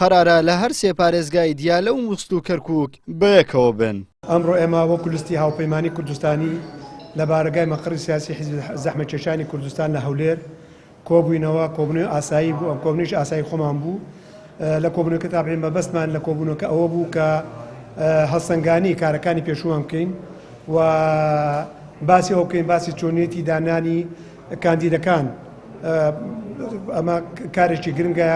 قەرارە لە هەر سێ پارێزگای دیالە و موسڵ و کەرکووک بەیەکەوە بن. ئەمڕۆ ئێمە وەکو لیستی هاوپەیمانی کوردستانی لە بارەگای مەقڕی سیاسی حیزبی زەحمەتکێشانی کوردستان لە هەولێر کۆبووینەوە، کۆبوونەوەی ئاسایی بوو، ئەم کۆبوونەوەیش ئاسایی خۆمان بوو. لە کۆبوونەوەکە تابعین مەبەستمان لە کۆبوونەوەکە ئەوە بوو کە هەڵسەنگانی کارەکانی پێشوومان بکەین و باسی ئەوە بکەین، باسی چۆنیەتی دانانی کاندیدەکان ئەمە کارێکی گرنگە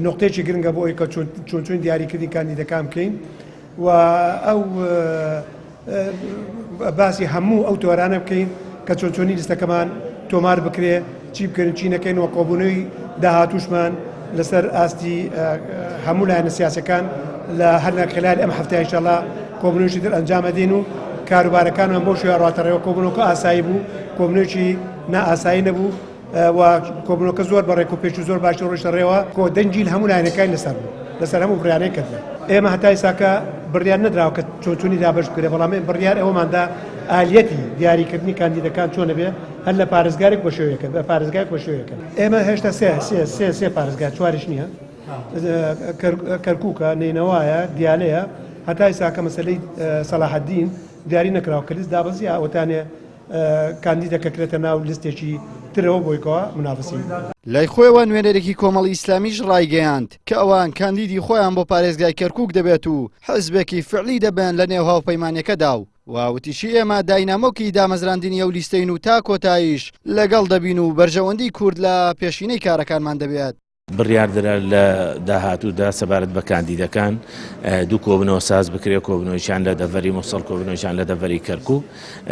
نقطەیەکی گرنگە بۆ ئەوی کە چۆنچوین دیاریکردنی کاندیدەکان بکەین و ئەو باسی هەموو ئەو تۆرانە بکەین کە چۆنچۆنی لیستەکەمان تۆمار بکرێ چی بکەین چی نەکەین و کۆبوونەوەی داهاتوشمان لەسەر ئاستی هەموو لایەنە سیاسەکان لە هەرنا خلال ئەم هەفتە ئیشەڵا کۆبنەوەشی در ئەنجامە دێن و کاروبارەکانمان بۆ شوێ ڕاتەڕێەوە کۆبنەوەکە ئاسایی بوو کۆبنەوەکی نائاسایی نەبوو و کۆبنەوەکە زۆر بە ڕێک و پێش و زۆر باشی ڕۆشتە ڕێەوە کۆ دەنجیل هەموو لایەنەکان لەسەر بوو لەسەر هەموو بڕیانەی کردن ئێمە هەتای ساکە بڕیان نەدراوە کە چۆچونی دابش بکرێ بەڵام بڕیار ئەوماندا ئالیەتی دیاریکردنی کاندیدەکان چۆنە بێ هەر لە پارێزگارێک بە شوێکە بە پارێزگای بە شوێکە ئێمە هێشتا سێ سێ سێ سێ پارێزگا چواریش نییە کەرکووکە نەینەوایە دیالەیە هەتا ئێستا کە مەسلەی سەلاحەدین دیاری نەکراوە کە لیست دابەزی ئەوتانێ کاندیدە کە کرێتە ناو لیستێکی ترەوە بۆیکەوە منافسی لای خۆیەوە نوێنەرێکی کۆمەڵی ئیسلامیش ڕایگەیاند کە ئەوان کاندیدی خۆیان بۆ پارێزگای کەرکووک دەبێت و حزبێکی فعلی دەبن لە نێو هاوپەیمانەکەدا و و وتیشی ئێمە داینامۆکی دامەزراندنی ئەو لیستەین و تا کۆتاییش لەگەڵ دەبین و بەرژەوەندی کورد لە پێشینەی کارەکانمان دەبێت. بڕیاردرا لە داهاتوودا سەبارەت بە کاندیدەکان دوو کۆبنەوە ساز بکرێت کۆبنەوەیان لە دەڤەری مووسڵ کۆبنەوەیان لە دەڤەری کەرکک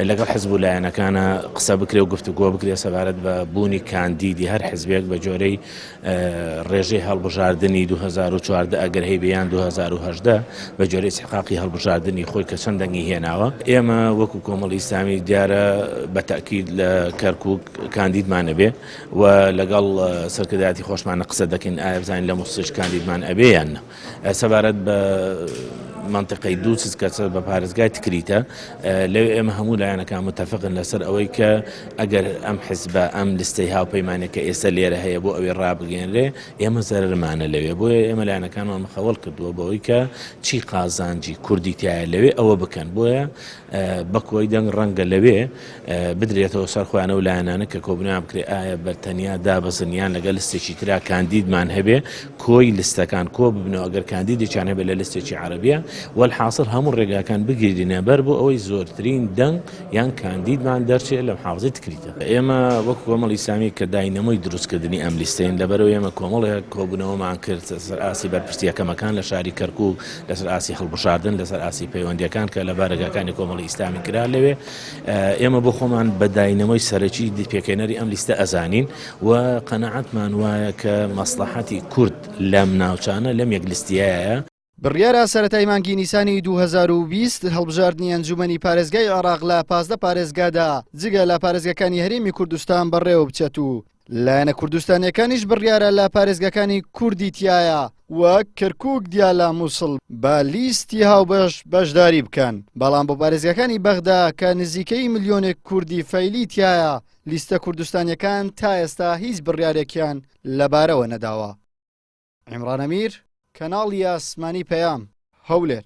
لەگەڵ حزب و لایەنەکانە قسە بکرێ و گفتوگۆ بکرێت سەبارەت بە بوونی کاندیدی هەر حزبێک بە جۆرەی ڕێژەی هەڵبژاردنی دوو هەزار و چواردە ئەگەر هەیبێ یان دوو هەزار و هەژدە بە گوێرەی ئیستحقاقی هەڵبژاردنی خۆی کە چەند دەنگی هێناوە ئێمە وەکو کۆمەڵی ئیسلامی دیارە بە تەئکید لە کەرکووک کاندیدمان ئەبێ و لەگەڵ سەرکردایەتی خۆشمانە قسە دەکەین ئایا بزانین لە موسڵیش کاندیدمان ئەبێ یان نە سەبارەت بە مەنتقەی دووسز کە سەر بە پارێزگای تکریتە لەو ئێمە هەموو لایەنەکان متتەفقن لەسەر ئەوەی کە ئەگەر ئەم حزبە ئەم لستەی هاوپەیمانەکە ئێستا لێرە هەیە بۆ ئەوێ ڕابگەێنرێ ئێمە زەرمانە لەوێ بۆیە ئێمە لایەنەکانمان مخەوەڵ کردووە بەوەی کە چی قازانجی کوردی تایە لەوێ ئەوە بکەن بۆیە بەکۆی دەنگ ڕەنگە لەوێ بدرێتەوە سەر خۆیان ئەو لایەنانە کە کۆبنیان بکرێت ئایا بە تەنیا دابەزن یان لەگەل لستێکی ترا کاندیدمان هەبێ کۆی لستەکان کۆ ببنەوە ئەگەر کاندیدێکیان هەبێت لە لستێکی عربیە والحاصل هەموو ڕێگاکان بگیرینە بەر بۆ ئەوەی زۆرترین دەنگ یان کاندیدمان دەرچێت لە محافزی تکریتە ئێمە وەک کۆمەڵ ئیسلامی کە داینەمۆی دروستکردنی ئەم لیستەین لەبەرەوە ئێمە کۆمەڵێک کۆبوونەوەمان کرد سەر ئاسی بەرپرسیەکەمەکان لە شاری کەرکک لەسەر ئاستی هەڵبژاردن، لەسەر ئاستی پەیوەندییەکان کە لە بارەگاکانی کۆمەڵی ئیسلامی کرا لەوێ، ئێمە بۆ خۆمان بە داینەمۆی سەرەکی پێکهێنەری ئەم لیستە ئەزانین و قەناعەتمان وایە کە مەسڵەحەتی کورد لەم ناوچانە لەم یەک لیستیەیە. بڕیارە سەرەتای مانگی نیسانی دوو هەزار و بیست هەڵبژاردنی ئەنجوومەنی پارێزگای عێراق لە پازدە پارێزگادا جگە لە پارێزگاکانی هەرێمی کوردستان بەڕێوەبچێت و لایەنە کوردستانیەکانیش بڕیارە لە پارێزگاکانی کوردی تیایە وەک کرکوک دیالە مووسڵ بە لیستی هاوبەش بەشداری بکەن بەڵام بۆ پارێزگاکانی بەغدا کە نزیکەی ملیۆنێک کوردی فەیلی تایە لیستە کوردستانیەکان تا ئێستا هیچ بڕیارێکیان لەبارەوە نەداوە عیمرانەمیر کەناڵی ئاسمانی پەیام هەولێر.